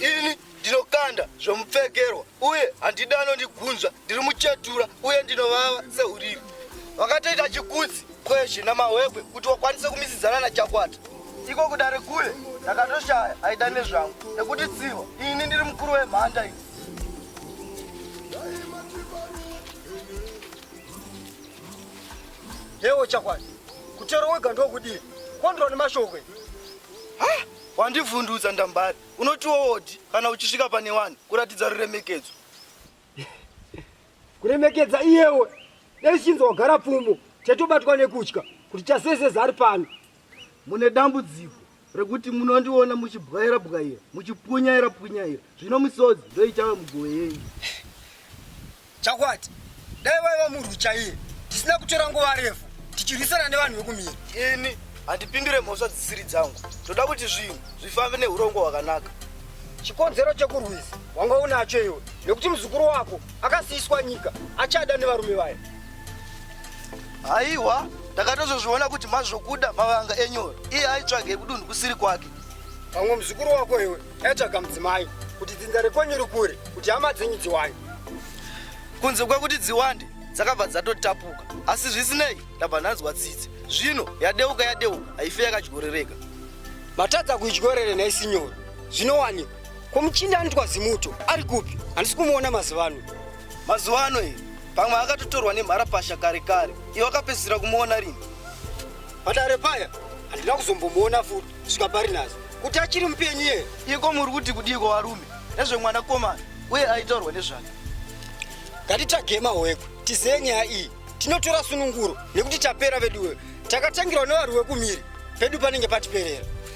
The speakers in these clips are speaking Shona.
ini ndinokanda zvomupfekerwa uye handidi anondigunzva ndiri muchetura uye ndinovava seurimi vakatoita chikudzi kwezvi namahwekwe kuti wakwanise kumisidzana nachakwata iko kudare kule ndakatoshaya aida nezvangu nekuti tsiva ini ndiri mukuru wemhanda iyi Hewo chakwadi kutero wega ndokudii kondroni mashokwe wandivhundutsa ndambari unoti woodi kana uchisvika pane wani kuratidza ruremekedzo kuremekedza iyewe dai chinzi wagara pfumo chatobatwa nekutya kuti chaseseza ari pano Mune dambudziko rekuti munondiona muchibwaira bwaira, muchipunyaira punyaira, zvino misodzi ndoichava mugowe yenyu. Chakwati, dai vaiva murwi chaiye, tisina kutora nguva refu tichirwisana nevanhu vekumira. Ini handipindure mhosva dzisiri dzangu, ndoda kuti zvinhu zvifambe nehurongo hwakanaka. Chikonzero chekurwisa wanga unacho iwe, nekuti muzukuru wako akasiiswa nyika achada nevarume vaya. Haiwa, ndakatozozviona kuti mazvokuda mavanga enyora. Iye aitsvage kudunhu kusiri kwake. Pamwe muzukuru wako iwe aitsvaga mudzimai kuti dzinza rekwenyu rikure kuti hama dzenyu dziwande. Kunze kwekuti dziwande dzakabva dzatotapuka, asi zvisinei ndabva ndanzwa tsitsi. Zvino yadeuka yadeuka haife yakadyorereka. Matadza kuidyorere nhai sinyoro. Zvinowanikwa. Ko muchinda anotwa zimuto ari kupi? Handisi kumuona mazuva ano. mazuva ano iyi pamwe akatotorwa nemharapasha kare kare iwe akapedzisira kumuona rini padare paya handina kuzombomuona futi svika pari nhasi kuti achiri mupenyu iye iko muri kuti kudiiko varume nezvemwana komana uye aitaurwa nezvake ngatitsvage mahoekwe tizeye nyaya iyi tinotora sununguro nekuti tapera veduwe takatangirwa nevari wekumiri pedu panenge patiperera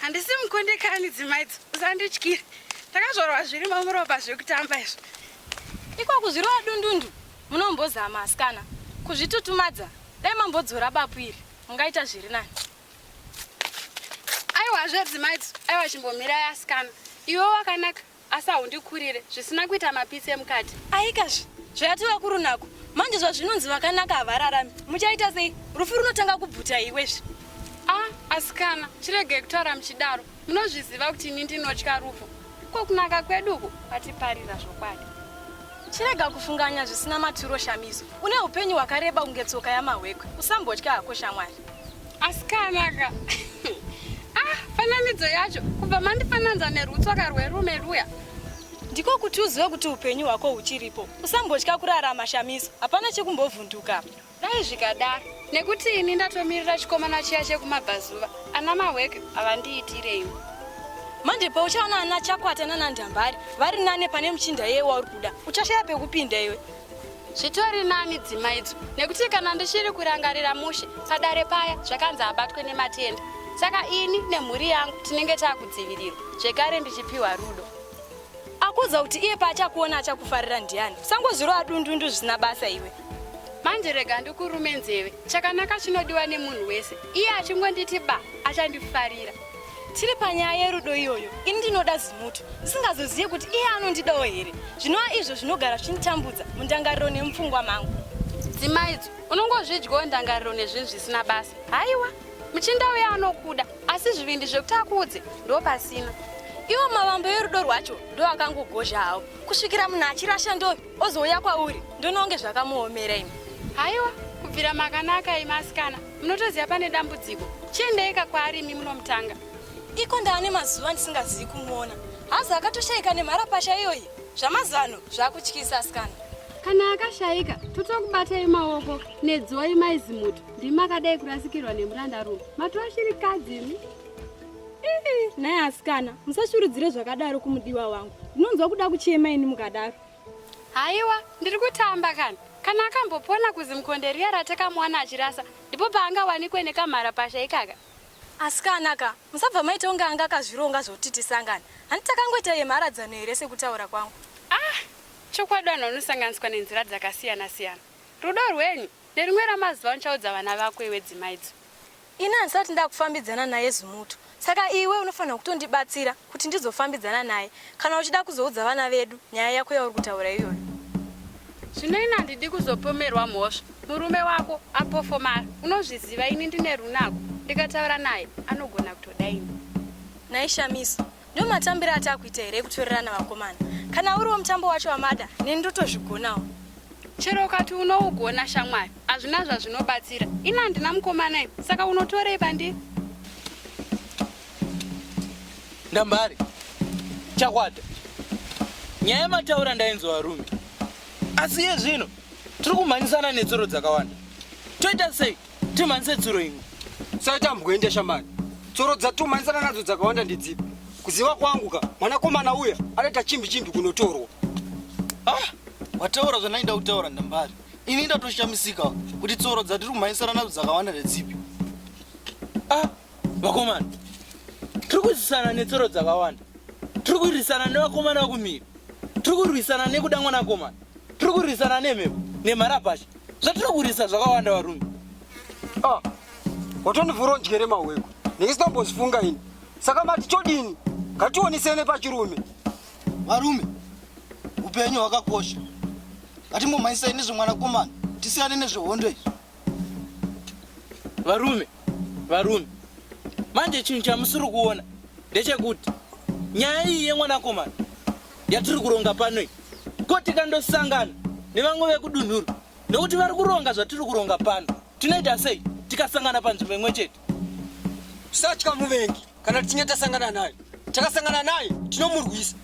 handisi mukundikani dzimaidzo usandityire takazvorwa zvirimo muropa zvekutamba izvo iko kuzvirova dundundu munombozama asikana kuzvitutumadza dai mambodzora bapu iri mungaita zviri nani aiwa zvedzimaidzo aiwa chimbomirai asikana iwe wakanaka asi haundikurire zvisina kuita mapitsi emukati aikazve zvayati vakuru nako manje zvazvinonzi vakanaka havararami muchaita sei rufu runotanga kubvuta iwezvi a ah, asikana chiregei kutaura muchidaro munozviziva kuti ini ndinotya rufu ko kunaka kwedu uku vatiparira zvokwadi chirega kufunganya zvisina maturo shamiso une upenyu hwakareba kunge tsoka yamahwekwe usambotya hako shamwari asikanaka ah fananidzo yacho kubva mandifananza nerutsoka rwerume ruya ndiko kuti uzive kuti upenyu hwako huchiripo usambotya kurarama shamiso hapana chekumbovhunduka dai zvikadaro nekuti ini ndatomirira chikomana chiya chekumabvazuva ana mahweke havandiitireiwo manje pauchaona ana chakwata nanandambari vari nane pane muchinda yeye wauri kuda uchashaya pekupinda iwe zvitori nani dzima idzo nekuti kana ndichiri kurangarira mushe padare paya zvakanzi abatwe nematenda saka ini nemhuri yangu tinenge taakudzivirirwa zvekare ndichipiwa rudo akuudza kuti iye paachakuona achakufarira ndiani sangozvirova dundundu zvisina basa iwe manje rega ndikurume nzeve chakanaka chinodiwa nemunhu wese iye achingonditi ba achandifarira tiri panyaya yerudo iyoyo ini ndinoda zimuto ndisingazozive kuti iye anondidawo here zvinova izvo zvinogara zvichinditambudza mundangariro nemupfungwa mangu dzimaidzo unongozvidyawo ndangariro nezvinhu zvisina basa haiwa muchinda uye anokuda asi zvivindi zvekuti akuudze ndo pasina iwo mavambo yerudo rwacho ndo akangogozha hawo kusvikira munhu achirasha ndo ozouya kwauri ndononge zvakamuomera imi haiwa kubvira makanaka imi asikana munotoziva pane dambudziko chiendeika kwaari imi munomutanga iko ndaane mazuva ndisingazivi kumuona hazi akatoshaika nemharapasha iyoyi zvamazano zvakutyisa asikana kana akashaika totokubatai maoko nedzoi maizimuto ndimi makadai kurasikirwa nemuranda rume matova shiri kadzi imi naye asikana musashurudzire zvakadaro kumudiwa wangu ndinonzwa kuda kuchema ini mukadaro Haiwa, ndiri kutamba kana. Kana akambopona kuzimkonde riya ratakamuwana achirasa, ndipo paangawanikwe nekamhara pasha ikaka. Asikana ka, musabva maita kunge anga akazvironga zvokuti tisangane. Handi takangoita yemharadzano here sekutaura kwangu? Ah, chokwadi vanhu vanosanganiswa nenzira dzakasiyana-siyana. Rudo rwenyu, nerimwe ramazuva uchaudza vana vako iwe dzimaidzo. Ini handisati ndakufambidzana naye Zumuto saka iwe unofanirwa kutondibatsira kuti ndizofambidzana naye kana uchida kuzoudza vana vedu nyaya yako yauri kutaura iyoyo. Zvino ini handidi kuzopomerwa mhosva. Murume wako apofomara unozviziva ini ndine runako ndikataura naye anogona kutoda ini. Nhai Shamiso, Ndomatambire atakuita here ekutorerana vakomana. Kana uriwo mutambo wacho wamada, neni ndotozvigonawo. Chero ukati unougona shamwari, hazvina zvazvinobatsira. Ini handina mukomana iwe, saka unotorei pandiri? Ndambari, chakwata. Nyaya yamataura ndainzwa varume. Asi iye zvino tiri kumhanyisana netsoro dzakawanda. Toita sei? Timanise tsuro imwe. Sachambwende shamani. Tsuro dzatumanisana nadzo dzakawanda ndidzipi? Kuziva kwangu ka mwanakomana uya anoita chimbi chimbi kunotorwa. Ah, wataura zvandaida kutaura ndambari. Ini ndatoshamisika kuti tsuro dzatiri kumhanyisana nadzo dzakawanda ndedzipi? Ah, vakomana tiri kudzisana netsoro dzakawanda tiri kurwisana nevakomana vakumira tiri kurwisana nekuda mwanakomana tiri kurwisana nemhepo nemharapasha zvatiri kurwisa zvakawanda varume ah, watondivhura undyere mahweko neisitambozifunga ini saka mati chodini ngationisene pachirume varume upenyu hwakakosha ngatimbomhanyisai nezvemwanakomana tisiyane nezvehondo izvi varume varume manje chinhu chamusiri kuona ndechekuti nyaya iyi yemwanakomana yatiri kuronga pano iyi ko tikandosangana nevamwe vekudunhuru nekuti vari kuronga zvatiri kuronga pano tinoita sei tikasangana panzvimbo imwe chete Satya muvengi kana tichinge tasangana naye. Takasangana naye tinomurwisa.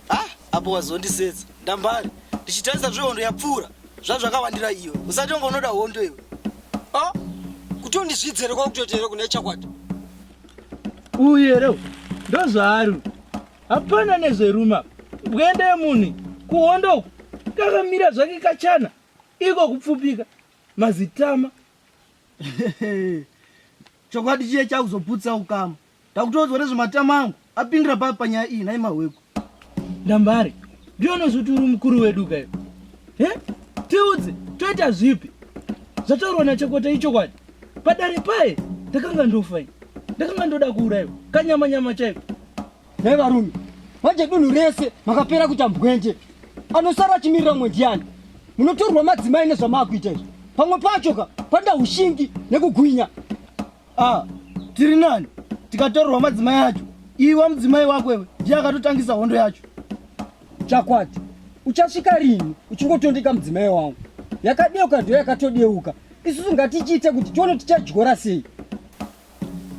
ah, apo wazondisetsa. Ndambari. Ndichitarisa zvehondo yapfuura. Zvazvakawandira iwe. Usati wanga unoda hondo iwe. Ah, kuti undizvidzere kwa kutoteera kuna chakwata. Uye reo. Ndozvaari. Hapana nezveruma. Bwende munhu kuhondo uko. Kakamira zvake kachana. Iko kupfupika. mazitama chokwadi chiye chakuzoputsa ukama takutoudzwa nezvematama angu apindira papi panyaya iyi nhai mahwekwa ndambare ndionozvi kuti uri mukuru wedu kayo he tiudze toita zvipi zvataurwa nachokwata ichokwadi padare paye ndakanga ndofai ndakanga ndoda kuurayiwa kanyama nyama chaiko Hei varume, manje dunhu rese makapera kuita mbwenje. Anosara achimirira mumwe ndiani? Munotorwa madzimai nezvamaakuita izvi. Pamwe pacho ka panda ushingi nekugwinya. Ah, tiri nani? Tikatorwa madzimai acho. Iwe mudzimai wako iwe ndiye akatotangisa hondo yacho. Chakwati, uchasvika rini uchingotondeka mudzimai wangu? Yakadeuka ndiyo yakatodeuka. Isusu ngatichiite kuti tione tichadyora sei.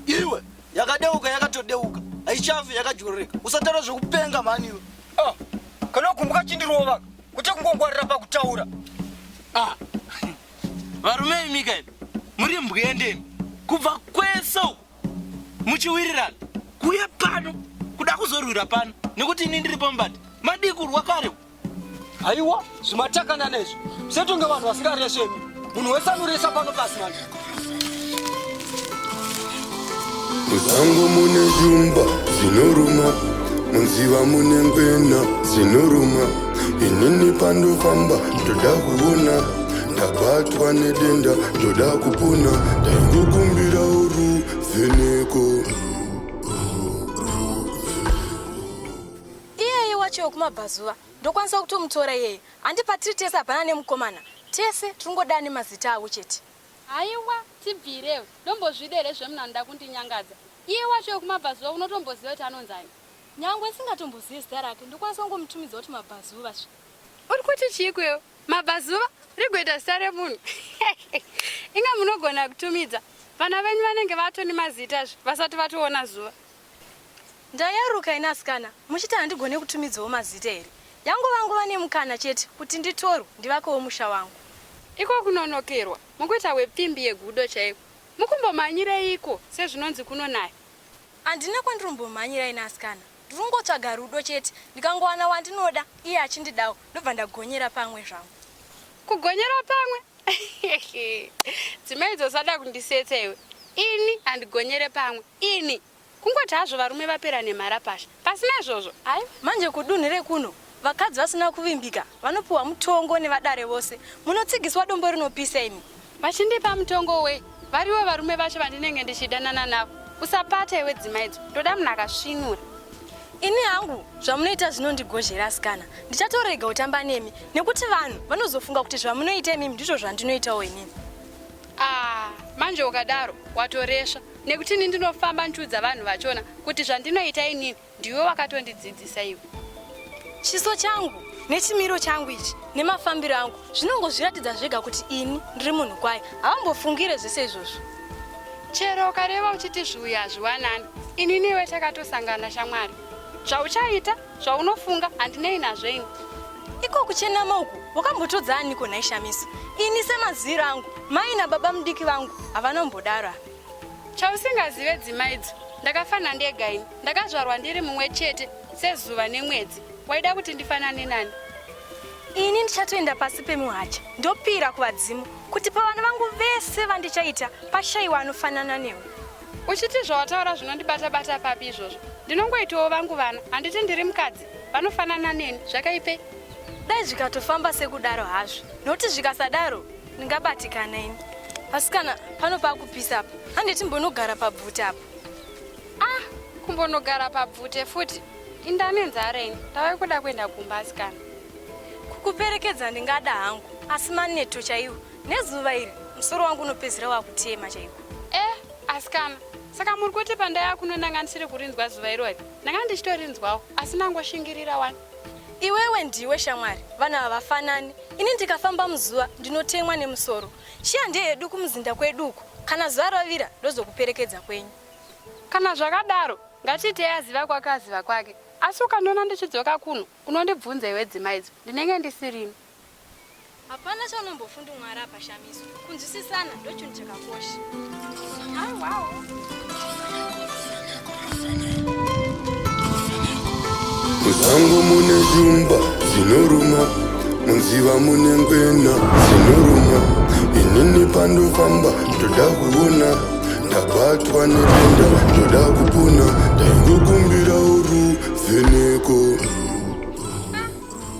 iwe yakadeuka yakatodeuka haichafi yakadyororeka usataura zvekupenga mhani iwe ah, kana ukumbuka chindirova kuti kungongwarira pakutaura ah, varume ah. imika imi muri mbwendeni kubva kwese uku muchiwirirana kuya pano kuda kuzorwira pano nekuti ini ndiri pambati madii kurwa kare Aiwa, zvimatakana nezvo. Setunge vanhu vasingareshe. Munhu wese anoresa pano pasi manje. Musango mune zvumba zvinoruma, munziva mune ngwena dzinoruma. Inini pandofamba ndoda kuona, ndabatwa nedenda ndoda kupona, ndaingokumbira uruvheneko. Iyeye wacho wekumabvazuva ndokwanisa kutomutora iyeye handi patiri tese hapana nemukomana tese tiringodaa nemazita avo chete. Haiwa tibvirewo ndombozvida here zvemuna anoda kundinyangadza iye wacho wekumabvazuva unotomboziva kuti anonzani. Nyangwe ndisingatombozive zita rake ndokwanisa kungomutumidza kuti mabvazuva zve. Uri kuti chiiko iwe mabvazuva rigoita zita remunhu inga munogona kutumidza vana venyu vanenge vatoni mazita zve vasati vatoona zuva. Ndayaruka ini asikana muchiti handigone kutumidzawo mazita here? Yangova nguva nemukana chete kuti nditorwe ndivakewo musha wangu. Iko kunonokerwa mukuita hwepfimbi yegudo chaiko. Mukumbomanyireiko sezvinonzi kunonaya? Handina kwandiri kumbomhanyira ini asikana. Ndiri kungotsvaga rudo chete. Ndikangowana wandinoda iye achindidawo ndobva ndagonyera pamwe zvangu. Kugonyera pamwe? Dzimaidzo usada kundisetsa iwe. Ini handigonyere pamwe. Ini kungoti hazvo varume vapera nemarapasha pasina izvozvo aiwa. Manje kudunhu rekuno vakadzi vasina kuvimbika vanopiwa mutongo nevadare vose munotsigiswa dombo rinopisa imi. Vachindipa mutongo wei variwo varume vacho vandinenge ndichidanana navo usapata iwe dzima idzo ndoda munhu akasvinura. Ini hangu zvamunoita zvinondigozhera asikana ndichatorega kutamba nemi nekuti vanhu vanozofunga kuti zvamunoita imimi ndizvo zvandinoitawo inini. Ah, manje ukadaro watoresva nekuti ini ndinofamba ndichiudza vanhu vachona kuti zvandinoita inini ndiwe wakatondidzidzisa iwe. Chiso changu nechimiro changu ichi nemafambiro angu zvinongozviratidza zvega kuti ini ndiri munhu kwaye. Hawambofungire zvese izvozvo. Chero ukareva uchiti zviuya hazviwanani, ini newe takatosangana shamwari. Zvauchaita zvaunofunga handinei nazvo ini iko kuchenama uku wakambotodza aniko nhai shamiso ini semaziviro angu mai nababa mudiki vangu havana mbodaro apa chausingazive dzimaidzo ndakafana ndega ini ndakazvarwa ndiri mumwe chete sezuva nemwedzi waida kuti ndifanane nani ini ndichatoenda pasi pemuhacha ndopira kuvadzimu kuti pavana vangu vese vandichaita pashaiwa anofanana newe uchiti zvawataura zvinondibata bata papi izvozvo ndinongoitawo vangu vana handiti ndiri mukadzi vanofanana neni zvakaipei dai zvikatofamba sekudaro hazvo nokuti zvikasadaro ndingabatikana ini asi kana pano pakupisa apa handiti mbonogara pabvute apa ah kumbonogara pabvute futi indane nzara ini ndave kuda kuenda kumba asikana kukuperekedza ndingada hangu asi maneto chaiwo Nezuva iri musoro wangu unopedzera wakutema chaiko. Eh, asikana. Saka muri kuti pandaya kuno ndanga ndisiri kurinzwa zuva irori. Ndanga ndichitorinzwawo asi nangoshingirira wani. Iwewe ndiwe shamwari, vana havafanani. Ini ndikafamba muzuva ndinotemwa nemusoro. Shiya ndiye yedu kumuzinda kwedu uko. Kana zuva rovira ndozokuperekedza kwenyu. Kana zvakadaro, ngatiitei aziva kwake aziva kwake. Asi ukandiona ndichidzoka kuno, unondibvunza iwe dzimaidzo. Ndinenge ndisirimo. Hapana chaunombofunda Mwari apa Shamiso. Kunzwisisana ndochinhu chakakosha. Hayi wawo. Muzango mune shumba dzinoruma, munziva mune ngwena dzinoruma. Inini pandofamba ndoda kuona, ndabatwa nedenda ndoda kupona, ndaingokumbirawo ruvheneko.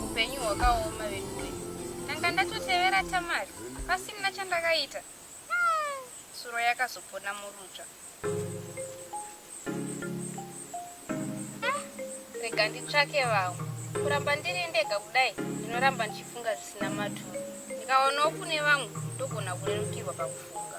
upenyu hwakaoma veduwe ndanga ndatotevera tamari pasina chandakaita hmm, tsuro yakazopona murutsva hmm, rega nditsvake vamwe kuramba ndiri ndega kudai ndinoramba ndichifunga zvisina maturo ndikaonawo kune vamwe ndogona kurerukirwa pakufunga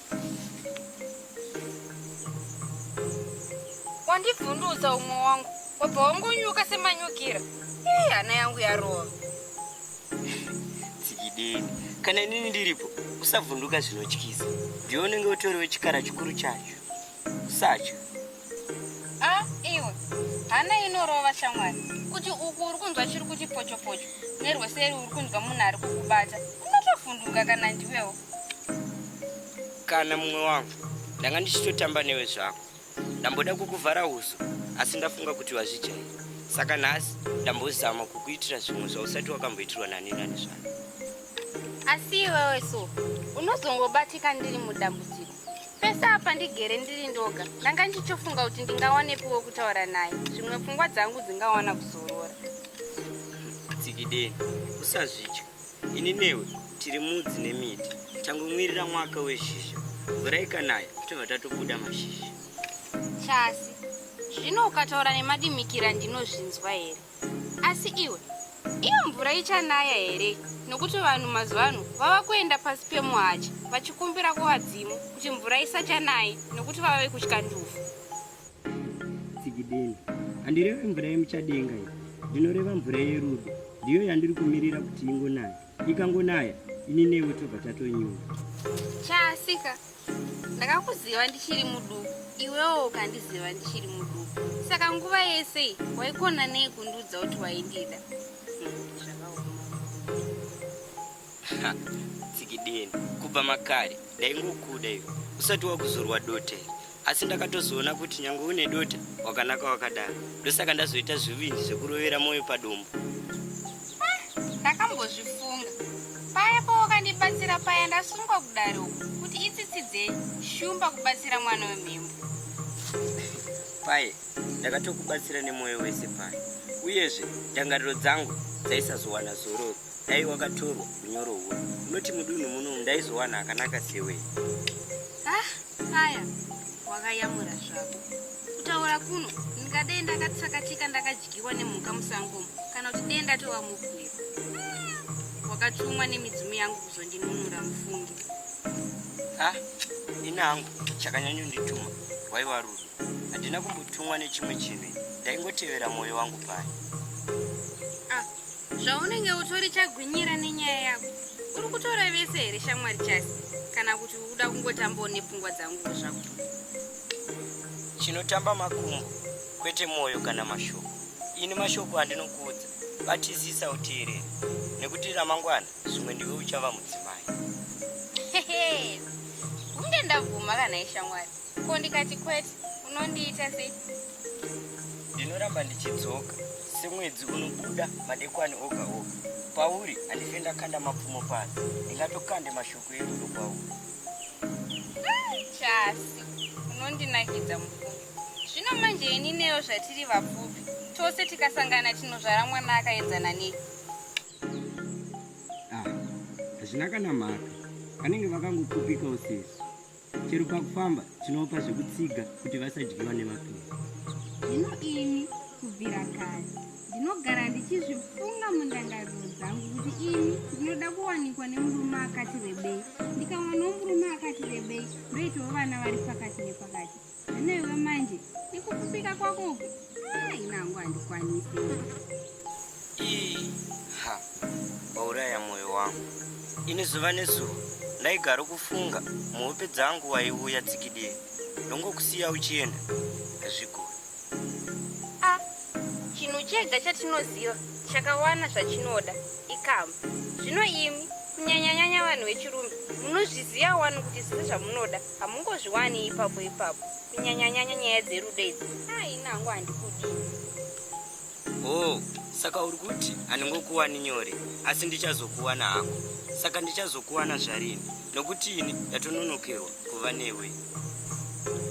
wandivhundutsa umwe wangu wabva wangonyuka semanyukira ii hana yangu yarova tsikideni kana inini ndiripo usavhunduka zvinotyisa ndiwe unenge utoriwe chikara chikuru chacho sacho a ah, iwe hana inorova shamwari kuti uku uri kunzwa chiri kuchipochopocho nerweseri uri kunzwa munhu ari kukubata unotovhunduka kana ndiwewo Kana mumwe wangu ndanga ndichitotamba newe zvako. Ndamboda kukuvhara uso asi ndafunga kuti wazvijaira. Saka nhasi ndambozama kukuitira zvimwe zvausati wakamboitirwa nani nani zvako. Asi iwewe so unozongobatika ndiri mudambudziko. Pese apa ndigere ndiri ndoga ndanga ndichitofunga kuti ndingawanepiwo kutaura naye zvimwe pfungwa dzangu dzingawana kuzorora. Tsikideni usazvidya. Ini newe tiri mudzi nemiti tangomwirira mwaka wezhizha mvura ikanaya tobva tatobuda mashizha chasi zvino ukataura nemadimikira ndinozvinzwa here asi iwe iyo mvura ichanaya here nokuti vanhu mazuva ano vava kuenda pasi pemuhacha vachikumbira kuvadzimu kuti mvura isachanayi nokuti vava vekutya ndufu tsikidini handireve mvura yemuchadenga iyo ndinoreva mvura yerudo ndiyo yandiri kumirira kuti ingonaya ikangonaya ini newe tobva tatonyura chaasika ndakakuziva ndichiri muduku iwewo ukandiziva ndichiri muduku saka nguva yese iyi waikona nei kundiudza kuti waindida tsikidini kubva makare ndaingokuda iwe usati wakuzorwa dota iri asi ndakatozoona kuti nyange une dota wakanaka wakadaro ndosaka ndazoita zvivinji zvekurovera mwoyo padombo ah, ndakambozvifunga paya pawakandibatsira paya ndasungwa kudaro kuti itsitsi dzei shumba kubatsira mwana wemhembo paye ndakatokubatsira nemwoyo wese paya uyezve ndangariro dzangu dzaisazowana zororo dai wakatorwa unyoro huno unoti mudunhu muno ndaizowana akanaka sewei ah paya wakayamura zvako kutaura kuno ndingadei ndakatsakatika ndakadyiwa nemhuka musangomo kana kuti dei ndatova mubwiro hmm, wakatumwa nemidzimu yangu kuzondinunura mufungi ah ini hangu chakanyanyondituma waiva rudo handina kumbotumwa nechimwe chinhu ndaingotevera mwoyo wangu paya zvaunenge utori chagwinyira nenyaya yako uri kutora vese here shamwari chasi kana kuti uda kungotambawo nepfungwa dzanguo zvako chinotamba makumbo kwete mwoyo kana mashoko ini mashoko andinokuudza batizisa uteerere nekuti ramangwana zvimwe ndiwe uchava mudzimai kunge ndabvuma kana ishamwari ko ndikati kwete unondiita sei ndinoramba ndichidzoka semwedzi unobuda madekwani oga oga pauri handife ndakanda mapfumo pano ndingatokande mashoko erudo kwauri chasi unondinakidza mupfupi zvino manje ini neyo zvatiri vapfupi tose tikasangana tinozvara mwana akaenzana nei ah, hazvina kana mhaka vanenge vakangopfupika usisi chero pakufamba tinopa zvekutsiga kuti vasadyiwa nemapiwa zvino ini kubvira kare ndinogara ndichizvifunga mundangariro dzangu kuti ini ndinoda kuwanikwa nemurume akati rebei ndikawanawo murume akati rebei ndoitawo vana vari pakati nepakati Newe manje ikukupika kwako uku inangu handikwanisi ha wauraya mwoyo wangu ini zuva nezuva ndaigara kufunga muhope dzangu waiuya tsikidie ndongokusiya uchienda hazvigoni a ah, chinhu chega chatinoziva chakawana zvachinoda ikamba zvino imi kunyanyanyanya vanhu vechirume munozviziva wani kuti zviri zvamunoda hamungozviwani ipapo ipapo kunyanyanyanya nyaya dzerudo idzi aina hangu handikudi oh saka uri kuti handingokuwani nyore asi ndichazokuwana hako saka ndichazokuwana zvarini nokuti ini ndatononokerwa kuva newe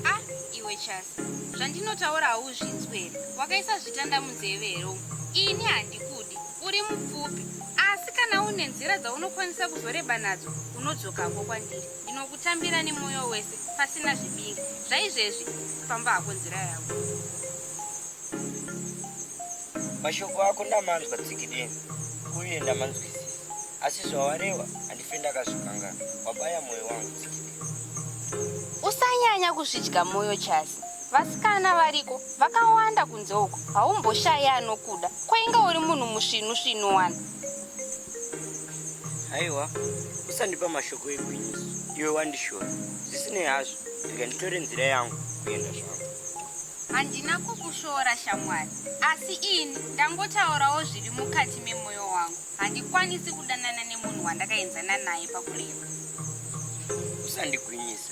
a ah, iwe chasi zvandinotaura hauzvinzwe here wakaisa zvitanda munzeve here umu ini handikudi uri mupfupi asi kana une nzira dzaunokwanisa kuzoreba nadzo unodzokako kwandiri Ndinokutambira nemwoyo wese pasina zvibingi zvaizvezvi famba hako nzira yako. Mashoko ako ndamanzwa tsikidini uye ndamanzwisisa asi zvawareva handife ndakazvikangaa wabaya mwoyo wangu tsikidini. Usanyanya kuzvidya mwoyo Chasi. Vasikana variko vakawanda kunze uko haumboshaye anokuda kwainga uri munhu musvinu svinu wani. haiwa usandipa mashoko egwinyiso iwe wandishora zvisinei hazvo rega nditore nzira yangu kuenda zvangu handina kukushora shamwari asi ini ndangotaurawo zviri mukati memwoyo wangu handikwanisi kudanana nemunhu wandakaenzana naye pakureva usandigwinyisa